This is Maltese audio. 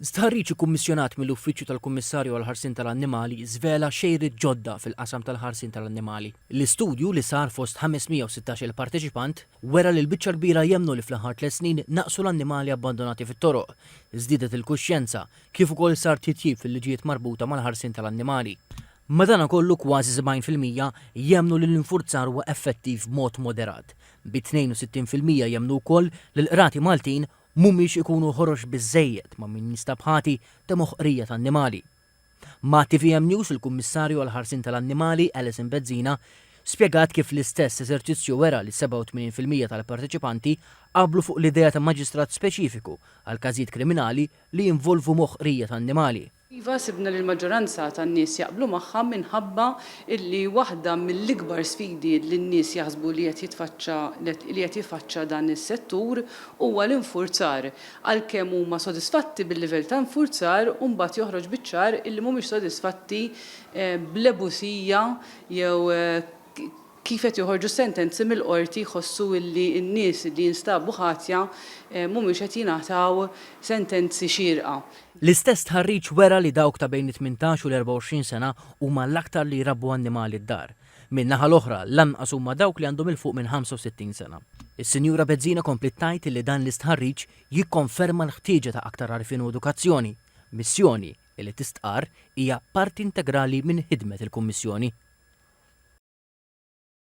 Stħarriġ ikkummissjonat mill-Uffiċċju tal-Kummissarju għall-Ħarsien tal-Annimali żvela xejriet ġodda fil-qasam tal-ħarsien tal-annimali. L-istudju, li sar fost 516-il parteċipant, wera li l-biċċa l-kbira jemmnu li fl-aħħar tliet snin naqsu l-annimali abbandonati fit-toroq, żdiedet il-kuxjenza, kif ukoll sar titjib fil-liġijiet marbuta mal-ħarsien tal-annimali. Madanakollu kważi 70 fil-mija jemmnu li l-infurzar huwa effettiv b'mod moderat, bi 62 fil-mija jemmnu wkoll li l-qrati Maltin Mhumiex ikunu ħorox biżżejjed ma' min jinstab ħati ta' moħqrija ta' annimali. Ma' tvm News il-Kummissarju għall-Ħarsien tal-Annimali, Alison Bezzina, spjegat kif l-istess eżerċizzju wera li 87 fil-mija tal-parteċipanti qablu fuq l-idea ta' maġistrat speċifiku għall-każijiet kriminali li jinvolvu moħqrija ta' annimali. Iva, sibna li l-maġġoranza tan-nies jaqblu magħha minħabba li waħda mill-ikbar sfidi li n-nies jaħsbu li qed jitfaċċa li qed jiffaċċa dan is-settur huwa l-infurzar, għalkemm huma sodisfatti bil-livell ta' infurzar u mbagħad joħroġ biċ-ċar illi mhumiex sodisfatti bl-ebusija jew kif qed joħorġu s-sentenzi mill-Qorti jħossu li n-nies li jinstabu ħatja mhumiex qed jingħataw sentenzi xierqa. L-istess stħarriġ wera li dawk ta' bejn it-tmintax u l-24 sena huma l-aktar li jrabbu annimali d-dar. Min-naħa l-oħra, l-anqas huma dawk li għandhom 'il fuq minn 65 sena. Is-Sinjura Bezzina kompliet tgħid li dan l-istħarriġ jikkonferma l-ħtieġa ta' aktar għarfien u edukazzjoni, missjoni, li tistqarr hija parti integrali minn ħidmet il-Kummissjoni.